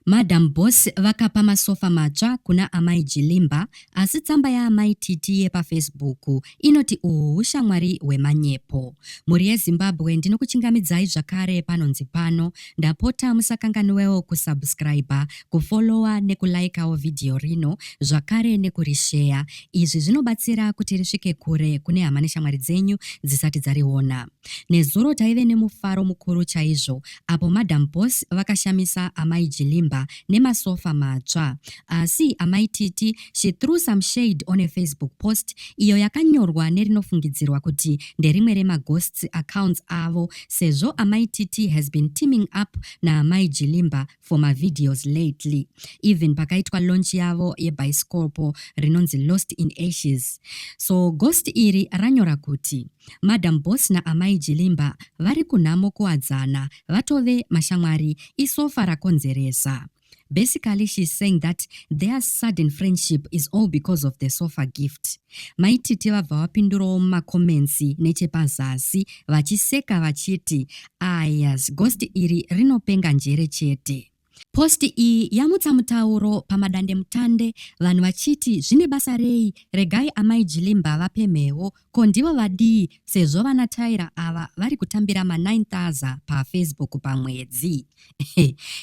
Madam Boss vakapa masofa matsva kuna Amai Jilimba asi tsamba yaAmai Titi yepaFacebook inoti uhu hushamwari hwemanyepo. Mhuri yeZimbabwe ndinokuchingamidzai zvakare panonzi pano. Ndapota musakanganwewo kusubscriber, kufollowa nekulaikawo vhidhiyo rino zvakare nekurisheya. Izvi zvinobatsira kuti risvike kure kune hama neshamwari dzenyu dzisati dzariona. Nezuro taive nemufaro mukuru chaizvo apo Madam Boss vakashamisa Amai Jilimba nemasofa matsva. Asi Amai Titi she threw some shade on a Facebook post iyo yakanyorwa nerinofungidzirwa kuti nderimwe remaghosts accounts avo sezvo Amai Titi has been teaming up naAmai Jilimba for mavideos lately even pakaitwa launch yavo yebhaisikopo rinonzi lost in ashes so ghost iri ranyora kuti madam boss naamai jilimba vari kunhamo kuwadzana vatove mashamwari isofa rakonzeresa basically she's saying that their sudden friendship is all because of the sofa gift Mai Titi vabva vapindurawo mumacomments nechepazasi vachiseka vachiti ayas ghost iri rinopenga njere chete. Post iyi yamutsa mutauro pamadandemutande vanhu vachiti zvine basa rei regai amai Jilimba vapemhewo ko ndivo vadii sezvo vana Tyra ava vari kutambira ma 9000 paFacebook pamwedzi.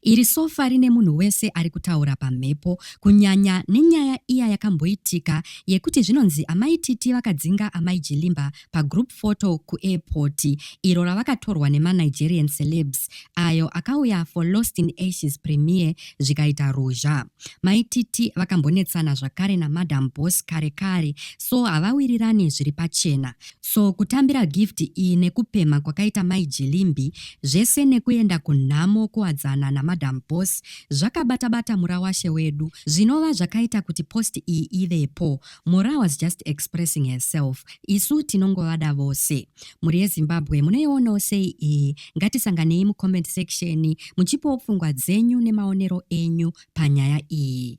Iri sofa rine munhu wese ari kutaura pamhepo, kunyanya nenyaya iya yakamboitika yekuti zvinonzi Amai Titi vakadzinga Amai Jilimba pagroup photo kuairport iro ravakatorwa nemaNigerian celebs ayo akauya for Lost in Ashes premiere zvikaita ruzha. Mai Titi vakambonetsana zvakare naMadam Boss kare kare so havawirirani zviri pachena. So kutambira gift iyi nekupemha kwakaita Mai Jilimbi zvese nekuenda kunhamo kuwadzana naMadam Boss zvakabata bata murawashe wedu zvinova zvakaita kuti post iyi ivepo. Mora was just expressing herself isu tinongovada vose mhuri yezimbabwe munoionawo sei iyi ngatisanganei mucomment section muchipawo pfungwa dzenyu nemaonero enyu panyaya iyi